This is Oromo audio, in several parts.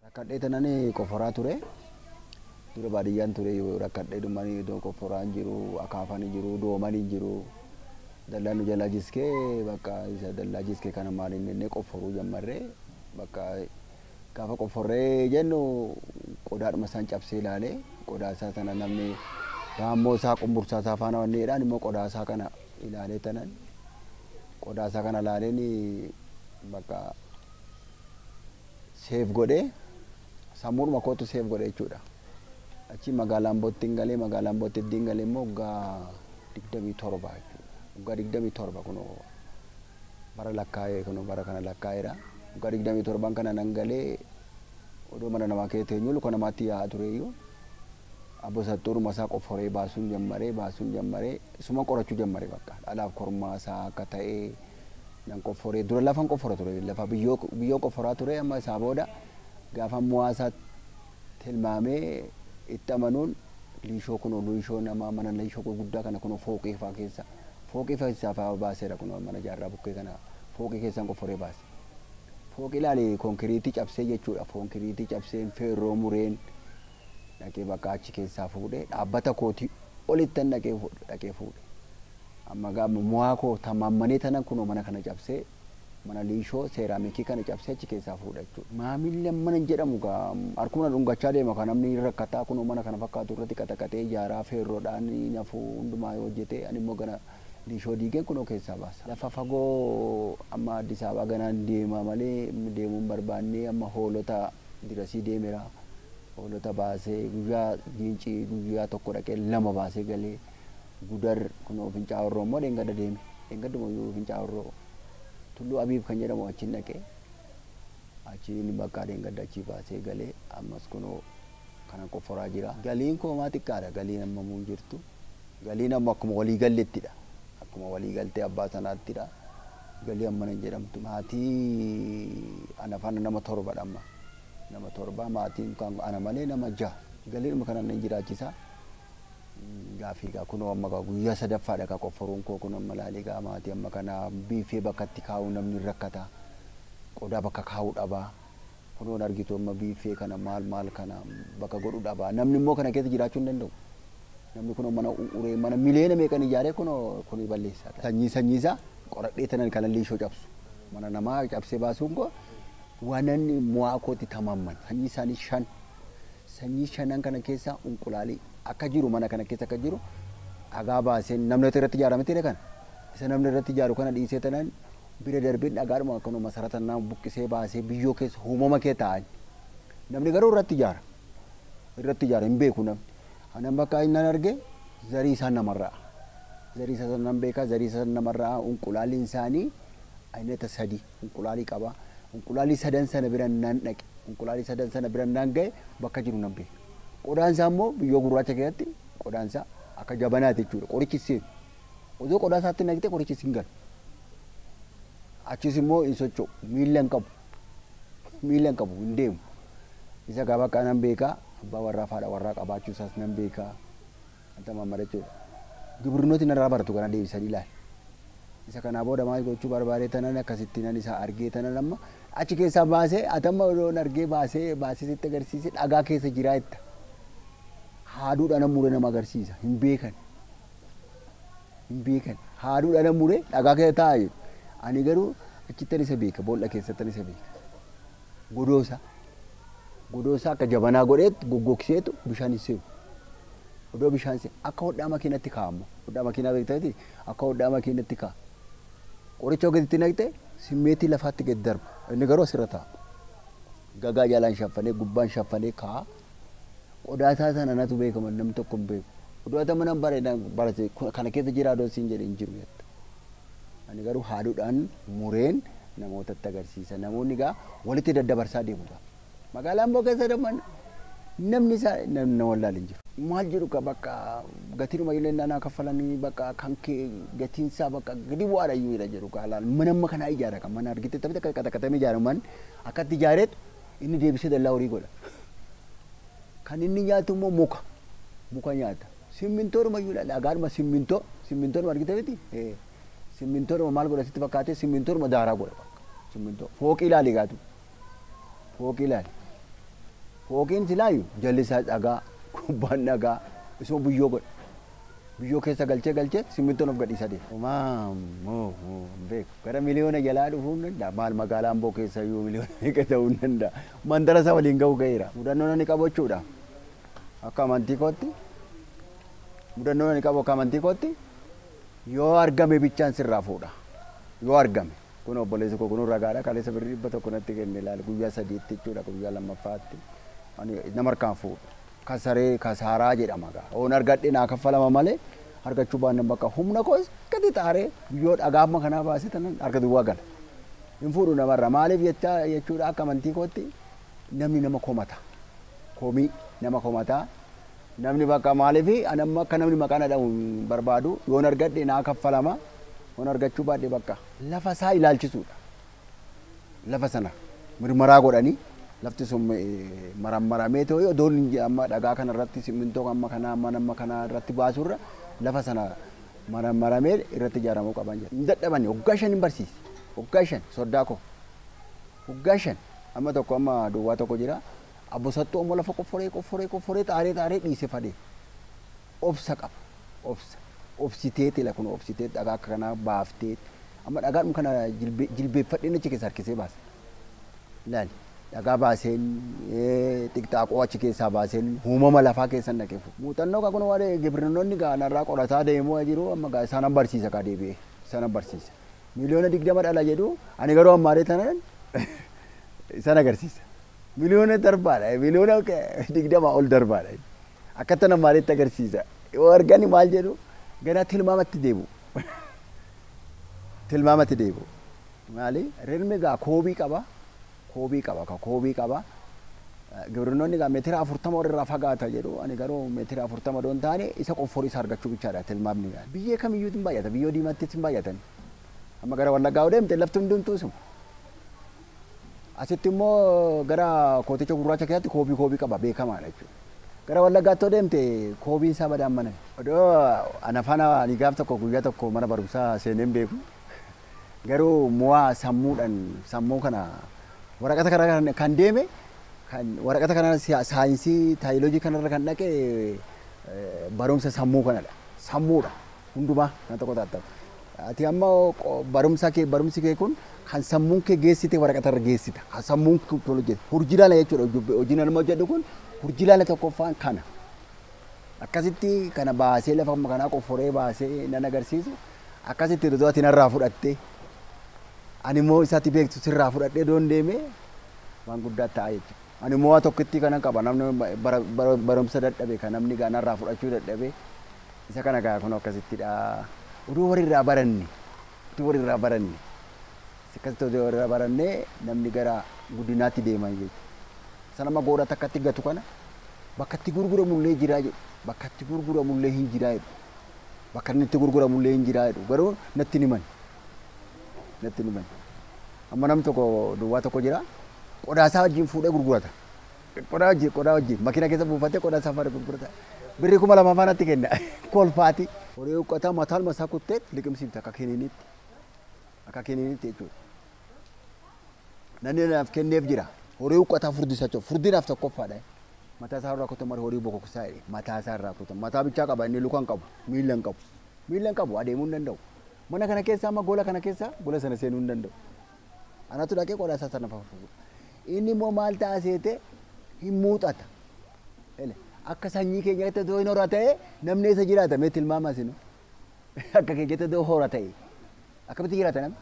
rakkadhee tanan qoforaa ture dura baadiyyaan ture rakkadhee dhumanii iddoo qoforaan jiru akaafaan jiru dooman jiru dallaan nu jalaa jiskee bakka isa dallaa jiskee kana maaliin jennee qoforuu jammarree bakka Gaafa qofforree jennu qodaadhuma san cabsee ilaale. Qodaa isaa sana namni raammoo isaa qumbursaa isaa faana wanni jedhaan immoo qodaa isaa kana ilaalee tanan qodaa isaa kana ilaaleen bakka seef godhee sammuudhuma kootu seef godhe jechuudha. Achi magaalaa Ambootti hin galee magaalaa Ambootti eddiin galee immoo waggaa digdamii torba jechuudha. Waggaa digdamii torba kunoo bara lakkaa'ee kunoo bara kana lakkaa'eera. Waggaa 27n kana nan galee odoo mana namaa keessa teenyuu luka namaatti yaa'aa tureeyyuu Abbo Saxxuuruma isaa qofforee baasuun jammaree baasuun jammaree isuman qorachuu jammare bakka dhalaaf kormaa isaa akka ta'e nan qofforee dura lafan qoffora ture lafa biyyoo biyyoon qofforaa ture amma isaa booda gaafan mu'aa isaa tilmaamee itti amanuun liishoo kunoo liishoo namaa mana liishoo gurguddaa kana kunoo fooqii faa keessa fooqii keessaa faa baaseera kunoo mana jaarraa bukkee kana fooqii keessaan qofforee baase. Fooqii ilaali konkiriitii cabsee jechuudha konkiriitii cabseen feerroo mureen dhaqee bakka achi keessaa fuudhee dhaabbata kootii olittan dhaqee fuudhe dhaqee fuudhe. Amma gaama mu'aa koo tamammanee tanan kunoo mana kana cabsee Mana liishoo, seeraamikii kana cabsee achi keessaa fuudha jechuudha. Maamilli ammana hin jedhamu egaa harkuma na dhungachaa deema kaa namni hin rakkataa kunoo mana kana fakkaatu irratti qaxaqaxee ijaaraa feerroodhaan hin hafu hundumaa yoo hojjete ani immoo gana liishoo diigeen kunoo keessaa baasa. Lafa fagoo amma Addis Ababaa ganaan deema malee deemuu hin barbaanne amma hoolota dirasii deemera. Hoolota baasee guyyaa giincii guyyaa tokko dhaqee lama baasee galee. Gudar kunoo Fincaa Horroo immoo dheengadda deeme. Dheengadduma iyyuu Fincaa Horroo Tulluu Abiib kan jedhamu achiin dhaqee achiin bakka dheengadda achii baasee galee ammas kunoo kanan qofforaa jira. Galiin koo maa xiqqaadha galiin ammamuu hin jirtu. Galiin amma akkuma walii gallettidha. Akkuma walii galtee abbaa sanaattidha. Galii ammana hin jedhamtu. Maatii ana faana nama torbadha amma. Nama torba maatiin kan ana malee nama jaha. Galiidhuma kanaan nan jiraachisaa. Gaafii egaa kunoo amma egaa guyyaa sadaffaa dha egaa qofforuun koo kunoo amma ilaali egaa maatii amma kana biiffee bakka itti kaa'uu namni hin rakkata qodaa bakka kaa'uu dhaba kunoo hin argitu amma biiffee kana maal maal kana bakka godhu dhaba namni immoo kana keessa jiraachuu hin danda'u namni kunoo mana uree mana miliyoona meeqan ijaaree kunoo kuni balleessaa dha sanyii sanyii isaa qoradhee tanan kana liishoo cabsu mana namaa cabsee baasuun koo wanan mu'aa kootti tamaamman sanyii isaanii shan Sanyii shanan kana keessa unqulaali akka jiru mana kana keessa akka jiru dhagaa baaseen namni irratti ijaara miti jedhe kana isa namni irratti ijaaru kana dhiisee tanan bira darbeen dhagaadhuma akkanuma masarata nama buqqisee baasee biyyoo keessa uumama kee taa'an namni garuu irratti ijaara irratti ijaara hin beeku namni anan bakka inni arge zarii isaa namarraa zarii isaa nan beekaa zarii isaa namarraa unqulaaliin isaanii aynata sadii Unqulaalii qaba. Unqulaalii sadan sana bira innaan dhaqe, unqulaalii sadan sana bira innaan ga'e bakka jiru nan beeka. Qodaan isaa immoo biyyoo gurraacha keessatti qodaan isaa akka jabanaa ti jechuudha. Qorichi hin seenu. Osoo qodaa isaatti naqxee qorichi sin galu. Achiis immoo hin socho'u. Miilla hin qabu. Miilla hin qabu. Hin deemu. Isa gaa bakka nan beeka. Abbaa warraa fi haadha warraa qabaachuu isaas nan beeka. Anta Muhammad jechuudha. Gibrinoti narraa baratu kana deebisanii ilaali. Isa kanaa booda maal gochuu barbaadee tanan akkasitti nan isa argee tanan amma achi keessaa baasee ati amma odoon argee baasee baasee sitti agarsiise dhagaa keessa jiraa jetta. Haaduudhaan nan mure nama agarsiisa hin beekan. Hin beekan. Haaduudhaan nan mure dhagaa keessa taa'a jedhu. Ani garuu achittan isa beeka boolla keessattan isa beeka. Godoo isaa. Godoo isaa akka jabanaa godheetti goggogseetu bishaan hin seenu. Odoo bishaan si akka hodhaa makiinatti kaa'a amma hodhaa makiinaa beekta miti akka hodhaa makiinatti kaa'a qoricha yoo gaditti naqxe simmeetii lafaatti gad darba inni garuu asirra taa'a gagaa jalaan shaffanee gubbaan shaffanee kaa'a qodaa isaa sana natu beeka malee namni tokko hin beeku odoo ati amma nan bareeda barate kana keessa jira odoo siin jedhe hin jiru jetta ani garuu haaduudhaan mureen namootatti agarsiisa namoonni gaa walitti daddabarsaa deemu gaa Magaalaa Amboo keessa damma namni isaa na wallaale hin jiru. Maal jedhu ka bakka gatinuma illee naa kaffalanii bakka kan kee gatiin isaa bakka gadi bu'aadha iyyuu jedha jedhu ka laal mana amma kanaa ijaara kan mana argite taphite akka qaxaqatamee ijaara man akkatti ijaareet inni deebisee dallaa horii godha. Kan inni nyaatu immoo muka muka nyaata. Simmintoodhuma iyyuu laal dhagaadhuma simmintoo simmintoodhuma argite miti simmintoodhuma maal godha sitti fakkaatee simmintoodhuma daaraa godha simmintoo fooqii laali gaatu. Fooqii ilaali. Fooqiin silaayu jalli isaa dhagaa, gubbaan dhagaa, isuma biyyoo godhe. Biyyoo keessa galchee galchee simmintoon of gadhiisaa deema. Homaa moo moo hin beeku. Gara miliyoona jalaa dhufuu hin danda'a. Maal magaalaa Amboo keessa iyyuu miliyoona meeqa ta'uu hin danda'a. Mandara isaa waliin ga'uu ga'eera. Mudannoon ani qabu jechuudha. Akka amantii kootti mudannoon ani qabu akka amantii kootti yoo argame bichaan sirraa fuudha. Yoo argame. Kunoo obboleessi koo kunuu ragaadha kaleessa birrii dhibba tokko natti kenne ilaali guyyaa sadiitti jechuudha guyyaa lammaffaatti ani nama harkaan fuudhu kasaree kasaaraa jedhama gaa oon argadhe naa kaffalama malee argachuu baannan bakka humna koos gadi xaaree guyyoo dhagaa amma kanaa baasee tanan harka duwwaa gala hin fuudhu namarra maaliif jechaa jechuudha akka amantii kootti namni nama komata komii nama komataa Namni bakka maalif ani amma akka namni maqaa na dhahu hin barbaadu yoon argadhe naa kaffalama yoon argachuu baadhe bakka lafa isaa ilaalchisuudha lafa sana mirmaraa godhanii lafti sun marammaramee ta'u odoon hin je- amma dhagaa kana irratti simmintoo amma kanaa mana amma kanaa irratti baasuu irra lafa sana marammaramee irratti ijaaramuu qaban jedha. Hin dadhabani waggaa shan hin barsiise waggaa shan soddaa koo waggaa shan amma tokko amma duwwaa tokko jira Abbo sattu ammo lafa qofforee qofforee qofforee xaaree xaaree dhiise fade. Obsa qaba. Obsa. Obsiteeti ila kuno obsiteet dhagaa akka kanaa baafteet amma dhagaadhum kana jilbe jilbeeffadheen achi keessa harkisee baasa. Ilaali dhagaa baaseen xiqxaaqoo achi keessaa baaseen uumama lafaa keessan dhaqee fuudha. Muuxannoo kaa kuno waa'ee gibrinnoonni gaa narraa qorataa deemu'a jiru amma gaa isaanan barsiisa kaa deebi'ee isaanan barsiisa. miliyoona digdama dhala jedhu ani garuu ammaaree tanan isan agarsiisa. Miliyoona darbaadha miliyoona digdama ol darbaadha akkattan ammaareetti agarsiisa yoo argani maal jedhu ganaa tilmaamatti deebi'u tilmaamatti deebi'u maali rirmi gaa koobii qaba koobii qaba ka koobii qaba gibrinnoonni egaa meetira afurtama ol irraa fagaata jedhu ani garuu meetira afurtama odoo hin taane isa qofforii isa argachuu bichaadha tilmaamni yaa biyyee kamiyyuu hin baay'ata biyyoo diimattis hin baay'atan amma gara wallaggaa yoo deemte lafti hundumtuu isuma asitti immoo gara kooticha gurraacha keessatti koobii koobii qaba beekamaadha jechuudha gara wallaggaatti yoo deemte koobiin isaa badaan mana odoo ana faana ani gaaf tokko guyyaa tokko mana barumsaa seeneen beeku Garuu moa sammuudhan sammuu kana waraqata kanarra kan deeme kan waraqata kana saayinsii taayilojii kanarra kan dhaqe barumsa sammuu kanadha. Sammuudha hundumaa kan tokko taattamu. Ati amma barumsa kee barumsi kee kun kan sammuun kee geessite waraqatarra geessita. Kan sammuun kee kun hojjete. Hurjilaala jechuudha hojiin nama hojjedhu kun hurjilaala tokkoffaan kana. Akkasitti kana baasee lafa kanaa qofforee baasee nan agarsiisu. Akkasitti duduu ati narraa fudhatte ani immoo isa ati beektu sirraa fudhadhee doon deeme waan guddaa ta'a jechuudha. Ani immoo waa tokkittii kanan qaba namni bara- bara- barumsa dadhabe kan namni gaa narraa fudhachuu dadhabe isa kana gaa kun akkasittidha. Oduu walirraa baranne oduu walirraa baranne akkasitti oduu walirraa baranne namni gara guddinaatti deema jechuudha. Sana amma goora takkatti gatu kana bakkatti gurguramullee jiraa jedhu bakkatti gurguramullee hin jiraa jedhu. bakka inni itti gurguramu illee hin jiraa jedhu garuu natti hin himan natti hin himan amma nam tokko duwwaa tokko jira qodaa isaa wajjin fuudhee gurgurata qodaa wajjin qodaa wajjin makina keessa buufatee qodaa isaa faana gurgurata birrii kuma lama faanatti kenna kolfaati horii uqqataa mataan masaa kuttee liqimsiifte akka kiniinitti akka kiniinitti jechuudha. Nanni naaf kenneef jira. Horii huqqataa furdisa jechuudha. Furdi naaf tokkoffaadha. Mataa isaa irraa kutan malee horii bokoksaa jedhe. Mataa isaa irraa kutan. Mataa bichaa qaba inni luka hin qabu. Miila hin qabu. Miila hin qabu adeemuu hin danda'u. Mana kana keessa amma gola kana keessa gola sana seenuu hin danda'u. Anatu dhaqee qodaa isaa sana fafuudha. Inni immoo maal ta'a seete hin muuxata. Ele. Akka sanyii keenyaatti otoo hin hora ta'e namni eessa jiraata mee tilmaama isin. Akka kee jette odoo hora ta'e akkamitti jiraata namni?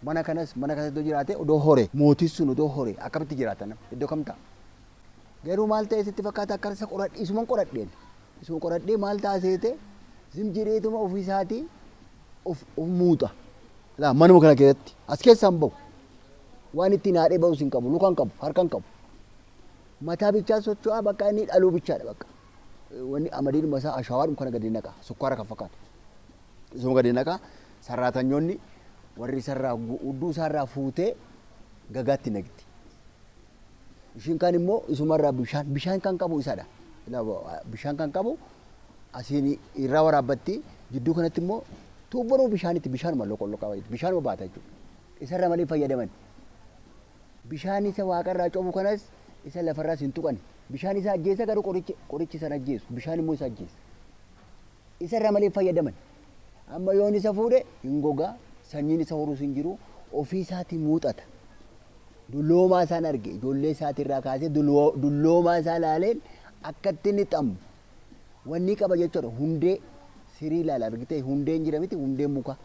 Mana kanas mana kanas odoo jiraate odoo hore mootiin sun odoo hore akkamitti jiraata namni? Iddoo kam ta'a? Garuu maal ta'e sitti fakkaata akka isa qoradhe isuman qoradheen isuma qoradhee maal ta'a seete zim jedheetuma ofii isaatii of of muuxa. Laa manuma kana keessatti as keessaan bahu waan ittiin haadhee bahus hin qabu lukaan qabu harkaan qabu mataa bichaa socho'aa bakka inni dhaluu bichaadha bakka Wanni amadiidhuma isaa ashaawaadhuma kana gadi naqa. Sukkaara kan fakkaatu. Isuma gadi naqa. Sarraatanyoonni warri isarraa hudduu isaarraa fuutee gagaatti naqxi. Ishiin kaan immoo isumarraa bishaan bishaan kan qabu isadha. Bishaan kan qabu asiin irraa waraabbatti jidduu kanatti immoo tuubbanuma bishaanitti bishaanuma loqolloqaa bishaanuma baata jechuudha. Isarra malee fayyadaman. Bishaan isa waaqa irraa cobu kanas isa lafa irraas hin tuqan. Bishaan isa ajjeesa garuu qorichi, qorichi isa hin ajjeesu. Bishaan immoo isa ajjeesa. Isa irraa malee hin fayyadaman. Amma yoon isa fuudhe hin gogaa, sanyiin isa horuus hin jiru, ofii isaatii muuxata. Dulloomaa isaan arge, ijoollee isaatii irraa kaasee dulloo- dulloomaa isaa laaleen akkatti inni xamu, wannii qaba jechuudha hundee sirii laala argitee hundeen jira miti hundeen muka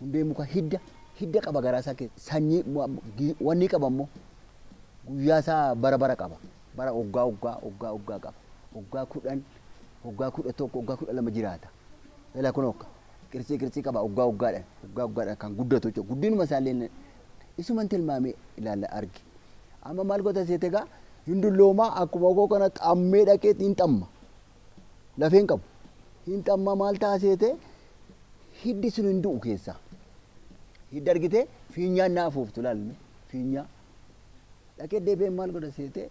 hundeen muka hidda hidda qaba garaa isaa keessa sanyii wannii qaba immoo guyyaa isaa bara bara qaba bara oggaa oggaa oggaa oggaa qaba oggaa kudhan oggaa kudha tokko oggaa kudha lama jiraata ila kun okka qircii qircii qaba oggaa oggaadhaan oggaa oggaadhaan kan guddatu jechuudha guddinuma isaallee Isuman tilmaame ilaalla argi. Amma maal goota seete egaa hin dulloomaa akkuma koo kana xammee dhaqee hin xamma. Lafeen qabu. Hin xamma maal ta'a seete hiddi sun hin du'u keessaa. Hidda argitee fiinyaan naa afuuftu laalme fiinyaa. Dhaqee deebi'ee maal godha seete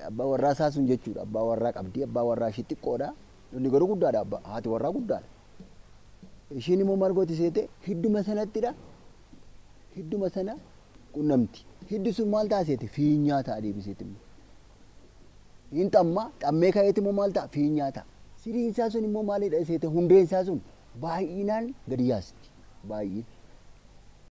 abbaa warraa isaa sun jechuudha. Abbaa warraa qabdi abbaa warraa ishii xiqqoodha. Inni garuu guddaadha abbaa haati warraa guddaadha. Ishiin immoo maal gooti seete? Hidduma sanattidha. Hidduma sana qunnamti. Hiddi sun maal ta'a seete? Fiinyaa ta'a deebiseeti immoo. Hin xamma, xammee ka'eeti immoo maal ta'a? Fiinyaa ta'a. Siriin isaa sun immoo maalidha seete? Hundeen isaa sun baay'inaan gadi yaasti. Baay'ina.